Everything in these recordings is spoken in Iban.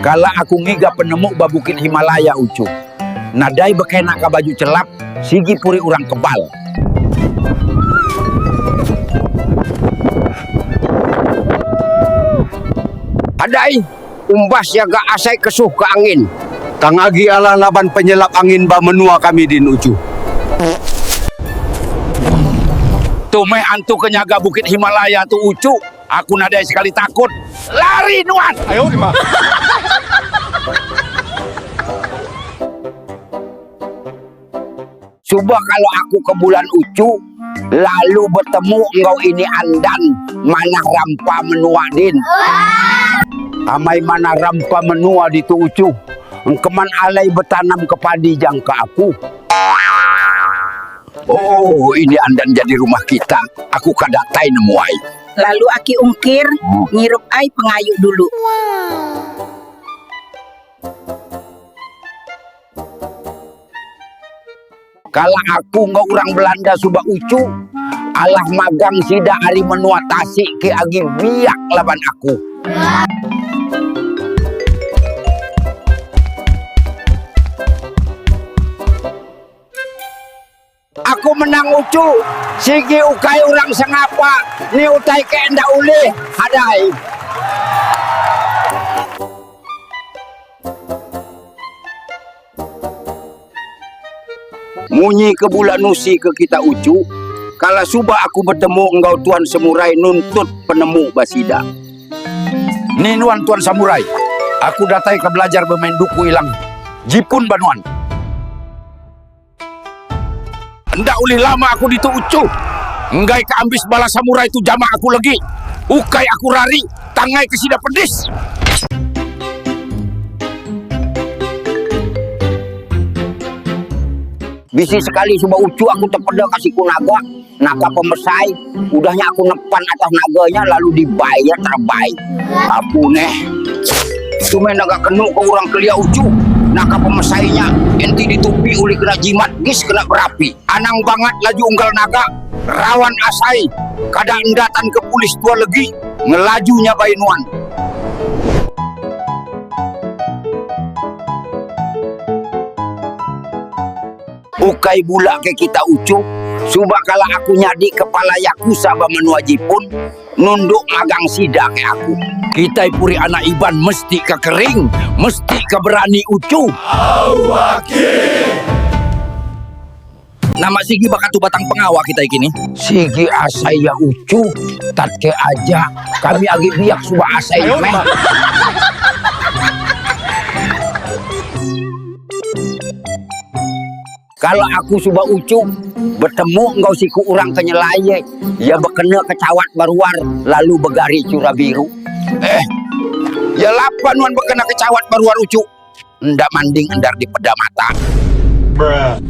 Kala aku ngiga penemu ba Bukit Himalaya uchu. Nadai bekena ka baju chelap, sigi puri urang kebal. Adai, umbas ya ga asai kesuh ka angin. Tang agi alah laban penyelap angin ba menua kami din uchu. Tu meh antu ke nyaga Bukit Himalaya tu uchu. Aku nadai sekali takut. Lari nuan. Ayo dima. Suba kala aku ke Bulan Uchu lalu betemu enggau ini Andan manah rampa menua din. Amai manah rampa menua ditu Uchu. Engkeman alai betanam ke padi jangka aku. Oh, ini andan jadi rumah kita. Aku ka datai nemu ai. Lalu aki ungkir ngirup ai pengayu dulu. Kala aku enggau urang Belanda suba uchu, alah magang sida ari menua tasik ke agi biak laban aku. Aku menang uchu sigi ukai orang sengapa ni utai ke enda ulih hadai. Munyi ke bula nusi ke kita uchu kala suba aku betemu enggau tuan semurai nuntut penemu ba sida. Ni nuan tuan samurai. Aku datai ka belajar bemain duku ilang jipun ba nuan. Enda ulih lama aku ditu uchu. Enggai ka ambis bala samurai tu jamah aku legi. Ukai aku rari tangai ke sida pedis. Bisi sekali suba uchu aku tepeda ka siku naga. Naka pemesai, udah nya aku ngepan atas naga nya lalu dibai iya terebai. Apu neh. Tu meh naga kenu ke urang kelia uchu. Naka pemesai nya enti ditupi ulih kena jimat gis kena berapi. Anang bangat laju unggal naga rawan asai kada enda tan ke pulis tua legi ngelaju nyabai nuan. Ukai bula ke kita uchu, suba kala aku nyadi kepala yakusa ba menua Jipun, nunduk magang sida ke aku. Kitai puri anak Iban mesti ka kering, mesti ka berani uchu. Nama sigi baka tu batang pengawa kitai kini? Sigi asai ya uchu, tat ke aja kami agi biak suba asai nya meh. Kala aku suba uchu betemu enggau siku orang ke nyelai ye, iya bekena ke chawat ba ruar lalu begari chura biru. Eh, iya lapa nuan bekena ke chawat ba ruar uchu? Enda manding endar dipeda mata. Bruh.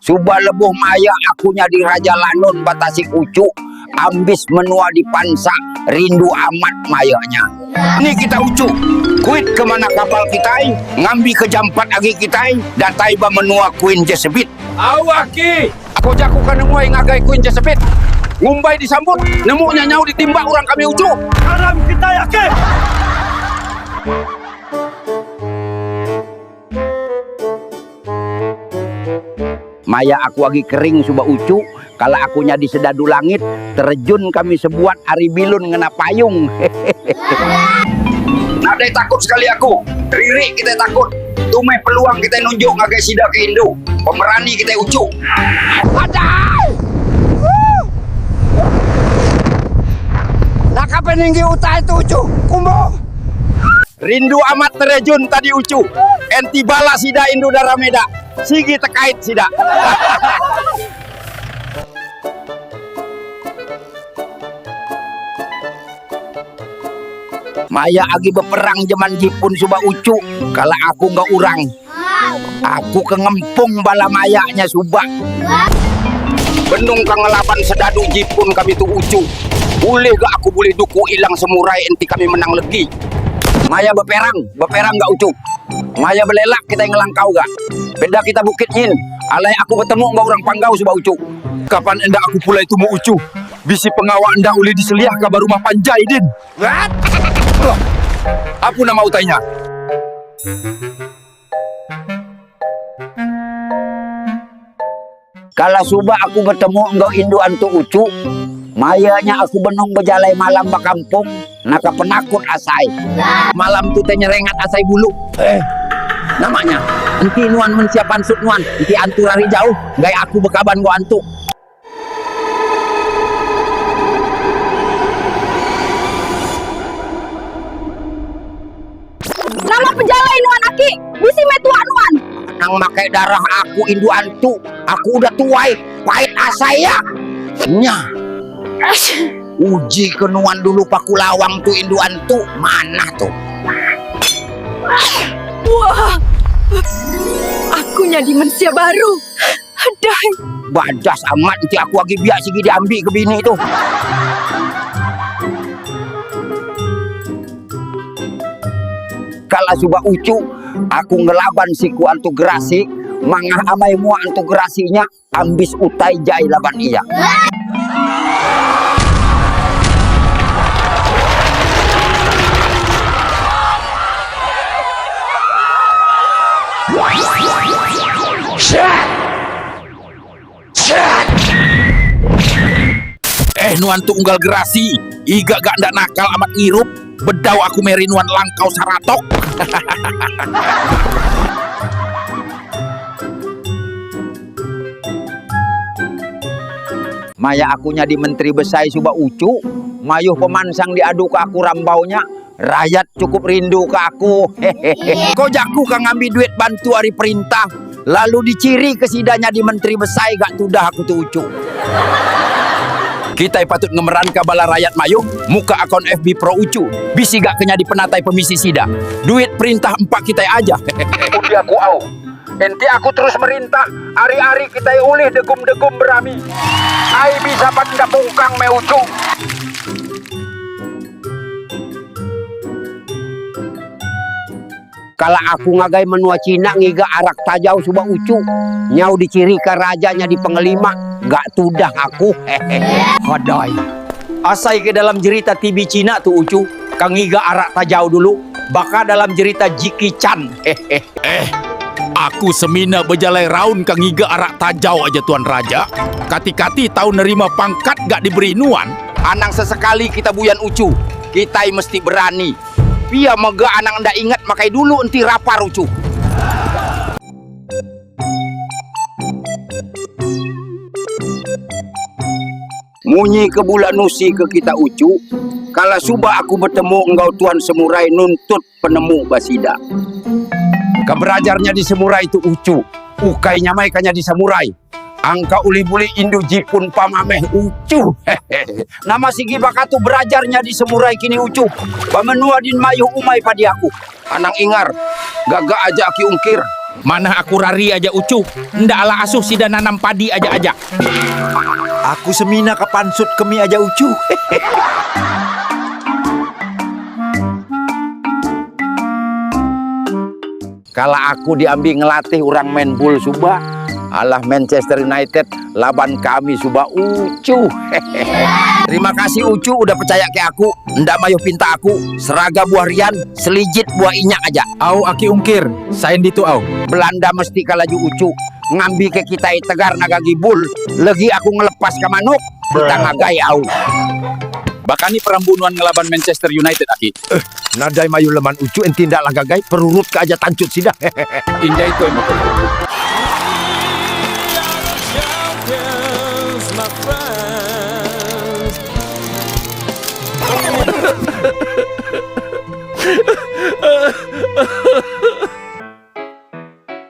Suba lebuh maya aku nyadi Raja Lanun ba Tasik Uchu, ambis menua dipansa rindu amat maya nya. Ni kitai Uchu? Kuit ke manah kapal kitai ngambika jam empat agi kitai datai ba menua Queen Jesebit. Au aki! Ko jaku ke nengoi ngagai Queen Jesebit. Ngumbai disambut, nemu nya nyau ditimba orang kami Uchu. Karam kitai aki! Maya aku agi kering suba uchu, kala aku nyadi sedadu langit, terejun kami sebuat ari bilun ngena payung. Hehehe. Nadai takut sekali aku. Riri kitai takut. Tu meh peluang kitai nunjuk ngagai sida ke indu. Pemerani kitai uchu. Adai! Woo! Woo! Naka peninggi utai tu uchu. Kumbu! Rindu amat terejun tadi uchu. Enti bala sida indu dara meda, sigi tekait sida. Maya agi beperang jeman Jipun suba uchu, kala aku enggau urang. Aku ke ngempung bala maya nya suba. Benung ka ngelaban sedadu jipun kami tu uchu. Bulih ga aku bulih duku ilang semurai enti kami menang legi. Maya beperang, beperang ga uchu. Maya belelak kitai ngelangkau ga. Enda kita bukit nyin. Alai aku betemu enggau orang Panggau suba uchu. Kaban enda aku pulai tumu uchu. Bisi pengawa enda ulih diseliah ka ba rumah panjai din. Apu nama utai nya? Kala suba aku betemu enggau indu antu uchu, maya nya aku benung bejalai malam ba kampung naka penakut asai. Malam tu te nyerengat asai bulu. Eh. Nama nya? Enti nuan mensia pansut nuan, enti antur ari jauh, enggai aku bekaban enggau antu. Nama pejalai nuan aki bisi meh tua nuan. Nang makai darah aku indu antu, aku udah tuai, pait asai iya. Nya. Uji ke nuan dulu paku lawang tu indu antu, manah tu. Aku nyadi mensia baru. Hadai. Badas amat enti aku agi biak sigi diambi ke bini tu. Kala suba uchu aku ngelaban siku antu gerasi mangah amai mua antu gerasi nya ambis utai jai laban iya. Eh nuan tu unggal gerasi iga ga enda nakal amat ngirup bedau aku meri nuan langkau saratok hahaha. Maya aku nyadi menteri besai suba uchu mayuh pemansang diadu ka aku rambau nya. Rayat cukup rindu ke aku hehehe. Ko jaku ka ngambi duit bantu ari perintah lalu di ciri ke sida nyadi menteri besai ga tudah aku tu ucu. Kitai patut ngemeranka bala rayat mayuh muka akaun FB pro ucu bisi ga ke nyadi penatai pemisi sida. Duit perintah empa kitai aja hehehe. Undi aku au. Enti aku terus merintah, ari ari kitai ulih degum degum berami. Ai bisa pan enggap ungkang meh ucu. Kala aku ngagai menua China ngiga arak tajau suba uchu nyau dichirika raja nyadi pengelima ga tudah aku hehehe. Kadai. Asai ke dalam jerita TV China tu uchu ka ngiga arak tajau dulu baka dalam jerita Jickie Chan hehehe. Eh. Aku semina bejalai raun ka ngiga arak tajau aja tuan raja. Kati-kati tau nerima pangkat ga diberi nuan. Anang sesekali kita buyan uchu, kitai mesti berani. Pia mega anang enda ingat makai dulu enti rapar uchu. Munyi ke bula nusi ke kita uchu, kala suba aku betemu enggau Tuan Semurai nuntut penemu ba sida. Ka berajar nyadi semurai tu uchu, ukai nyamai ka nyadi samurai. Angka ulih bulik indu jipun pam ameh uchu. Nama sigi baka tu berajar nyadi semurai kini uchu. Ba menua din mayuh umai padi aku. Anang ingar, gaga aja aki ungkir. Manah aku rari aja uchu. Enda ala asuh sida nanam padi aja aja. Aku semina ka pansut ke mih aja uchu. Kala aku diambi ngelatih orang main bul suba alah Manchester United laban kami suba uchu. Terima kasih uchu udah pecaya ke aku, enda mayuh pinta aku, seraga buah rian, selijit buah inyak aja. Au aki ungkir, sign ditu au. Belanda mesti ka laju uchu. Ngambika kitai tegar ngaga gibul legi aku ngelepaska manuk kita ngagai au. Bakani perambu nuan ngelaban Manchester United aki? Eh, nadai mayuh leman uchu enti enda lah ngagai perurut ke aja tanchut sida. Injai toi muka lu.